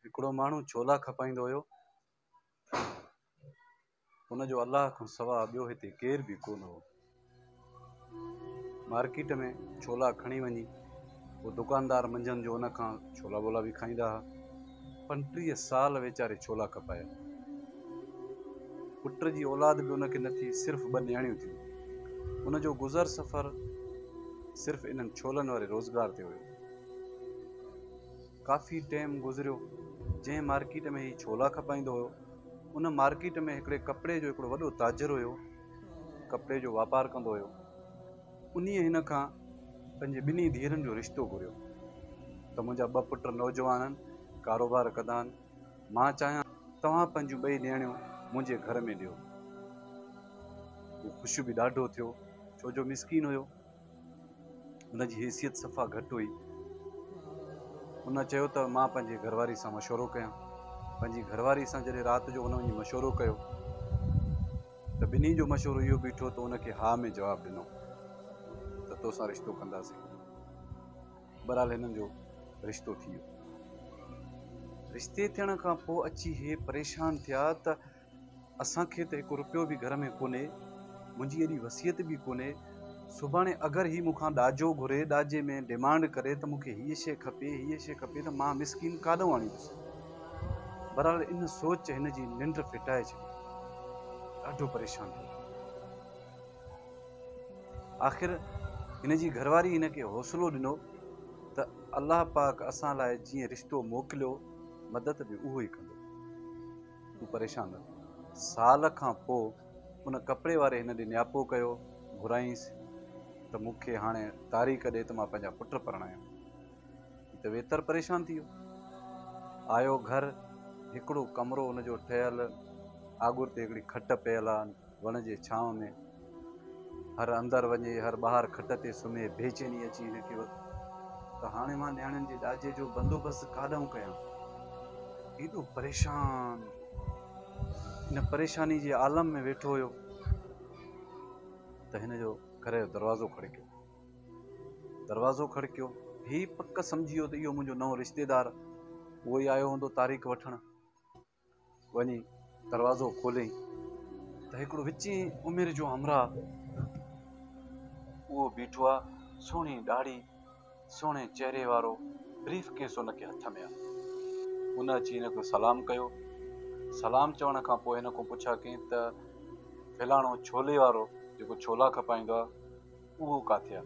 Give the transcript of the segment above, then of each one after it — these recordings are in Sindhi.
هڪڙو ماڻهو ڇولا کپائيندو هيو، ان جو الله کان سوا ٻيو هتي ڪير به ڪونه هو. مارڪيٽ ۾ ڇولا کڻي وڃي پوء دڪاندار منجهند جو ان کان ڇولا ٻولا به کائيندا ها. پنٽيهه سال ويچاري ڇولا کپايا. پٽ جي اولاد به ان کي نه ٿي، صرف ٻه نياڻيون ٿيون. ان جو گذر سفر صرف انهن ڇولن واري روزگار تي هيو. ڪافي ٽيم گذريو جنهن مارڪيٽ ۾ هي ڇولا کپائيندو هيو ان مارڪيٽ ۾ هڪڙي ڪپڙي جو هڪڙو وڏو تاجر هيو ڪپڙي جو واپار ڪندو هيو انهيء هن کان پنهنجي ٻنهي ڌيئرن جو رشتو گهريو ته منهنجا ٻه پٽ نوجوان آهن ڪاروبار ڪندا آهن مان چاهيان توهان پنهنجون ٻئي نيڻيون منهنجي گهر ۾ ڏيو هو خوش به ڏاڍو ٿيو ڇو جو مسڪين هيو ان جي حيثيت صفا گهٽ هئي. ان چيو ته مان پنهنجي گهر واري سان مشورو ڪيان. پنهنجي گهر واري سان جڏهن رات جو ان وڃي مشورو ڪيو ته ٻنهي جو مشورو اهو بيٺو ته ان کي ها ۾ جواب ڏنو ته توسان رشتو ڪنداسين. بهرحال هنن جو رشتو ٿي ويو. رشتي ٿيڻ کان پوء اچي هي پريشان ٿيا ته اسان کي ته هڪ روپيو به گهر ۾ ڪونهي، منهنجي اهڙي وصيت به ڪونهي، سڀاڻي اگر هي مون کان ڏاجو گهري، ڏاجي ۾ ڊيمانڊ ڪري ته مون کي هيء شيء کپي، هيء شيء کپي ته مان مسڪين ڪاڏئون آڻيندس. بهرحال ان سوچ هن جي ننڊ ڦٽائي ڇڏي. ڏاڍو پريشان ٿي ويو. آخر هن جي گهر واري هن کي حوصلو ڏنو ته الله پاڪ اسان لاء جيئن رشتو موڪليو، مدد به اهو ئي ڪندو. تون پريشان نه ٿي. سال کان پوء ان ڪپڙي واري هن ڏي نياپو ڪيو. گهرائينس ته مون کي هاڻي تاريخ ڏي ته مان پنهنجا پٽ پرڻايان. هي ته ويتر پريشان ٿي ويو. آيو گهر، هڪڙو ڪمرو ان جو ٺهيل، آڳر تي هڪڙي کٽ پيل آ. وڻ جي ڇانو ۾. هر اندر وڃي، هر ٻاهر کٽ تي سمهي، بيچيني اچي هن کي ورتي. ته هاڻي مان نياڻين جي ڏاجي جو بندوبست ڪاڏانهن ڪيان؟ ايڏو پريشان ان پريشاني جي عالم ۾ ويٺو هيو ته هن جو گهر جو دروازو کڙڪيو. دروازو کڙڪيو، هي پڪ سمجهي ويو ته اهو منهنجو نئون رشتيدار اهو ئي آيو هوندو تاريخ وٺڻ. وڃي دروازو کوليائين ته هڪڙو وچين عمر جو همراهه اهو بيٺو آ، سهڻي ڏاڙهي، سهڻي چهري وارو، بريف ڪيس هن کي هٿ ۾ آ. هن اچي هن کي سلام ڪيو، سلام چوڻ کان پوء هن کان پڇا ڪيائين ته فلاڻو ڇولي وارو جيڪو ڇولا کپائيندو آ اهو ڪاٿي آ؟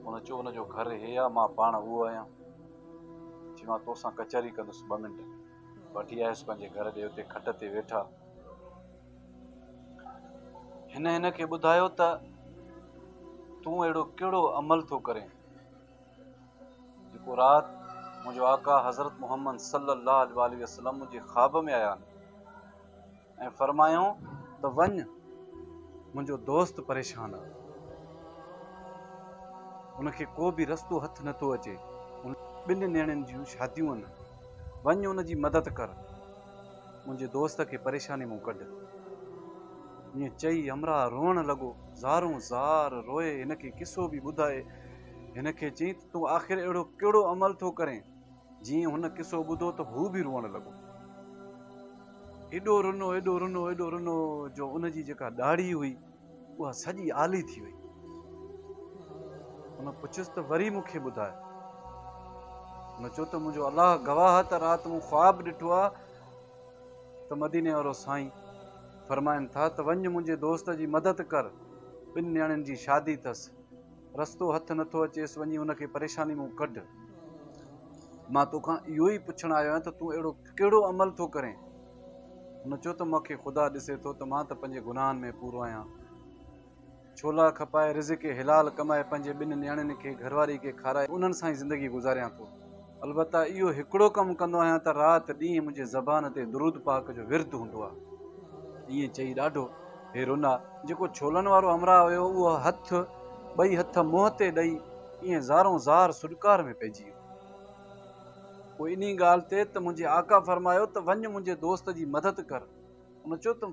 هن چيو ان جو گهر هي آ مان پاڻ اهو آهيان، چي مان توسان ڪچهري ڪندس ٻه منٽ. وٺي آيس پنهنجي گهر ڏي اتي کٽ تي ويٺا هن هن کي ٻڌايو ته تون اهڙو ڪهڙو عمل ٿو ڪرين جيڪو رات منهنجو آقا حضرت محمد صلي الله عليه وسلم جي خواب ۾ آيا ۽ فرمايائون ته وڃ منهنجو دوست پريشان آهي ان کي ڪو به رستو هٿ نه ٿو اچي ان ٻن نيڻين جون شاديون آهن وڃ ان جي مدد ڪر منهنجي دوست کي پريشاني مون ڪڍ ائين چئي همراهه روئڻ لڳو زارون زار روئي هن کي قصو به ٻڌائي هن کي چئي ته تون آخر اهڙو ڪهڙو عمل ٿو ڪرين جيئن هن قصو ٻڌو ته هو به روئڻ لڳو. ايڏو رنو، ايڏو رنو، ايڏو رنو جو ان جي جيڪا ڏاڙهي هئي اها سڄي آلي ٿي وئي. هن پڇيس ته وري مون کي ٻڌاء. هن چيو ته منهنجو الله گواهه ته رات مون خواب ڏٺو آهي ته مديني وارو سائين فرمائن ٿا ته وڃ منهنجي دوست جي مدد ڪر، ٻن نياڻين جي شادي اٿس. رستو هٿ نٿو اچيس وڃي ان کي پريشاني مون ڪڍ. مان توکان اهو ئي پڇڻ آيو آهيان ته تون اهڙو ڪهڙو عمل ٿو ڪرين؟ هن چيو ته مون کي خدا ڏسي ٿو ته مان ته پنهنجي گناهن ۾ پورو آهيان. ڇولا کپائي رزق حلال ڪمائي پنهنجي ٻن نياڻين کي گهرواري کي کارائي انهن سان ئي زندگي گذاريان ٿو. البته اهو هڪڙو ڪم ڪندو آهيان ته رات ڏينهن منهنجي زبان تي درود پاڪ جو ورد هوندو آهي. ائين چئي ڏاڍو هيرونا جيڪو ڇولن وارو همراهه هيو اهو هٿ ٻئي هٿ منهن تي ڏئي ائين زارون زار سڏڪار ۾ پئجي ويو. پوء انهي ڳالهه تي ته منهنجي آقا فرمايو ته وڃ منهنجي دوست جي مدد ڪر. ان چيو ته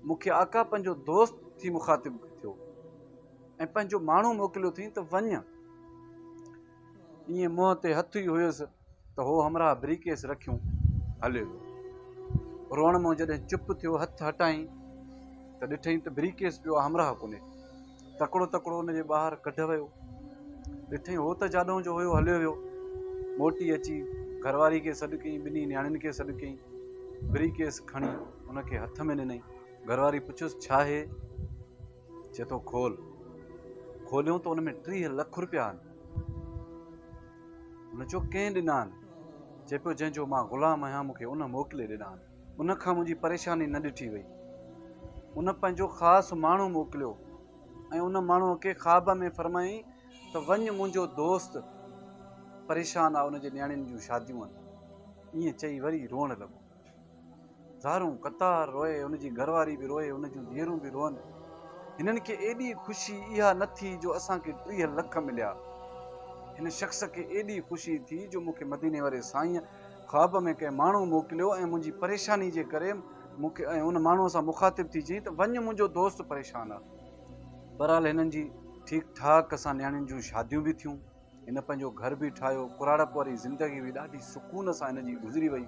مون کي آقا پنهنجو دوست ٿي مخاطب ٿيو ۽ پنهنجو ماڻهو موڪليو اٿئين ته وڃ. ائين منهن تي هٿ ئي هيس ته هو همراهه بريڪيس رکيون هليو ويو. روئڻ مون جڏهن چپ ٿيو هٿ هٽائين ته ڏٺئين ته بريڪيس پيو آ همراهه ڪونهي. تڪڙو تڪڙو ان جي ٻاهر ڪڍ ويو. ڏٺئين هو ته جاڏو جو هيو هليو ويو. موٽي اچي گهرواري کي سڏ ڪيئين ٻنهي نياڻين کي سڏ ڪيئين. بريڪيس کڻي هن کي هٿ ۾ ڏنئين. گهرواري پڇيس ڇا هي؟ چئي ٿو کول. کوليون ته ان ۾ ٽيهه لک روپيا آهن. هن چيو ڪنهن ڏنا آهن؟ چئي پيو جنهن جو مان غلام آهيان مون کي ان موڪلي ڏنا آهن. ان کان منهنجي پريشاني نه ڏٺي وئي. ان پنهنجو خاص ماڻهو موڪليو ۽ ان ماڻهوء کي خواب ۾ فرمايائين ته وڃ منهنجو دوست پريشان آهي ان جي نياڻين جون شاديون آهن. ائين چئي وري روئڻ لڳو. زارون قطار روئي، هن جي گهر واري به روئي، هن جون ڌيئرون به روئن. هنن کي ايڏي خوشي اها نه ٿي جو اسان کي ٽيهه لک مليا. هن شخص کي ايڏي خوشي ٿي جو مون کي مديني واري سائينء خواب ۾ ڪنهن ماڻهو موڪليو ۽ منهنجي پريشاني جي ڪري مون کي ۽ ان ماڻهوء سان مخاطب ٿي چيائين ته وڃ منهنجو دوست پريشان آهي. بهرحال هنن جي ٺيڪ ٺاڪ سان نياڻين جون شاديون به ٿيون. هن پنهنجو گهر به ٺاهيو. ڪراڙپ واري زندگي به ڏاڍي سڪون سان هن جي گذري وئي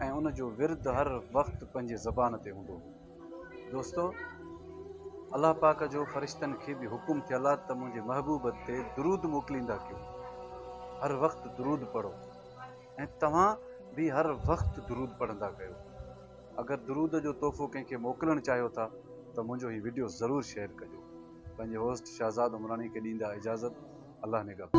۽ ان جو ورد هر وقت پنهنجي زبان تي هوندو هو. دوستو! الله پاڪ جو فرشتن کي به حڪم ٿيل آ ته منهنجي محبوب تي درود موڪليندا ڪيو. هر وقت درود پڙهو ۽ توهان به هر وقت درود پڙهندا ڪيو. اگر درود جو تحفو ڪنهن کي موڪلڻ چاهيو ٿا ته منهنجو هي وڊيو ضرور شيئر ڪجو. پنهنجي هوسٽ شهزاد عمراڻي کي ڏيندا اجازت الله نگهبان.